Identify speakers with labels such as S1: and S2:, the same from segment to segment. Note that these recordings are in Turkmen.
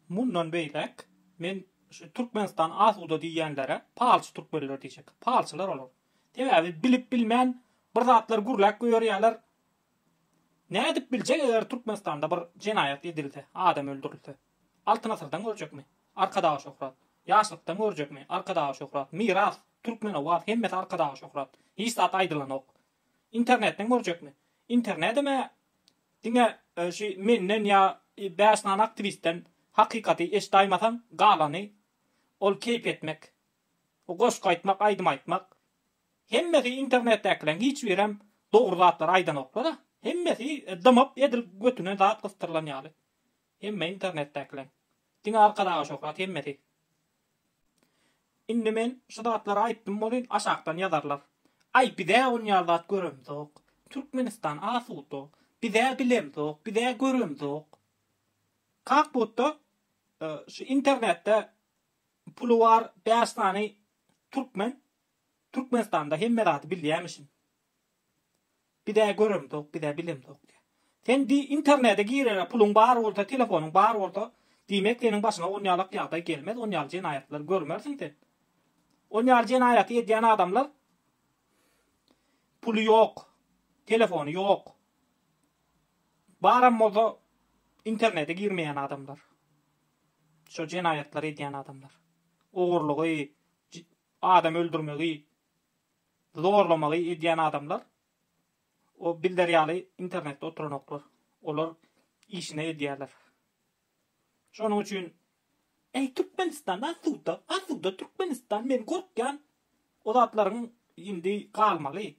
S1: Mundan beýläk men şu Türkmenistan asuda diýýänlere palçy türkmenler diýjek. Palçylar olar. Sebäbi bilip bilmän bir zatlar gürläp goýarýalar. Nädip biljek eger Türkmenistanda bir jenaýat edilse, adam öldürilse. Altyn asyrdan görjekmi? Arkadaga şöhrat. Ýaşlykdan görjekmi? Arkadaga şöhrat. Miras, Türkmen Owaz hemmesi Arkadaga şöhrat. Hiç zat aýdylanok. Internetden görjekmi? Internedem-ä Diňe şu menden ýa bäş sany aktiwistden hakykaty eşdaýmasaň galany ol keýp etmek, goşgy aýtmak, aýdym aýtmak. Hemmesi internetdäkileň hiç birem dogry zatlary aýdanoklar-a. Hemmesi dymyp edil götüne zat gysdyrylan ýaly. Hemme internetdäkiler. Diňe arkadaga şöhrat hemmesi. Indi men şu zatlary aýtdym bolyn aşakdan ýazarlar. Aý bizä onýal zat göremzok. Türkmenistan asuda. Bizä bilemzok, bizä göremzok. Kak butda şu internetde puly bar bäş sany türkmen Türkmenistanda hemme zady bilýämişin. Bizä göremzok bizä bilemzok diýýä. Sen di internede girere puluň bar bolsa telefonyň bar bolsa diýmek seniň başyňa onýalak ýagdaý gelmez onýaly jenaýatlary görmersiň sen. Onýaly jenaýaty edýän adamlar puly ýok telefony ýok baram bolsa internede girmeýän adamlar şo jenaýatlary edýän adamlar ogurlygy adam öldürmegi Zorlamagy edýän adamlar o Bilder ýaly internetde oturanoklar. Olar işine edýärler. Şonuň üçin. Eý Türkmenistan asuda asuda Türkmenistan men gorkýan o zatlaryň indi galmaly.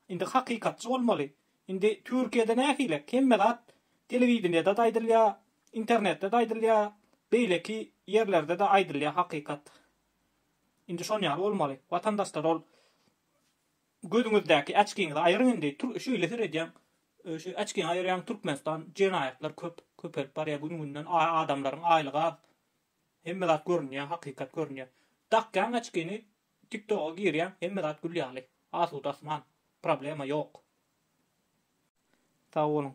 S1: Indi hakykatçy bolmaly. Indi Türkiýede nähili hemme zat telewideniýede-de aýdylýar, internetde-de aýdylýar, beýleki ýerlerde-de aýdylýar hakykat. Indi şon ýaly bolmaly. Watandaşlar ol gözüňizdäki äçkiňizi aýyryň indi tür şeýle seredýäň şu äçkiňi aýyrýaň türkmenistan jenaýatlar köp köpelip barýa gün günden a adamlaryň aýlygy az hemme zat görünýä hakykat görünýä dakýaň äçkini tik toga girýäň hemme zat gül ýaly asuda asman problema ýok. Sag boluň.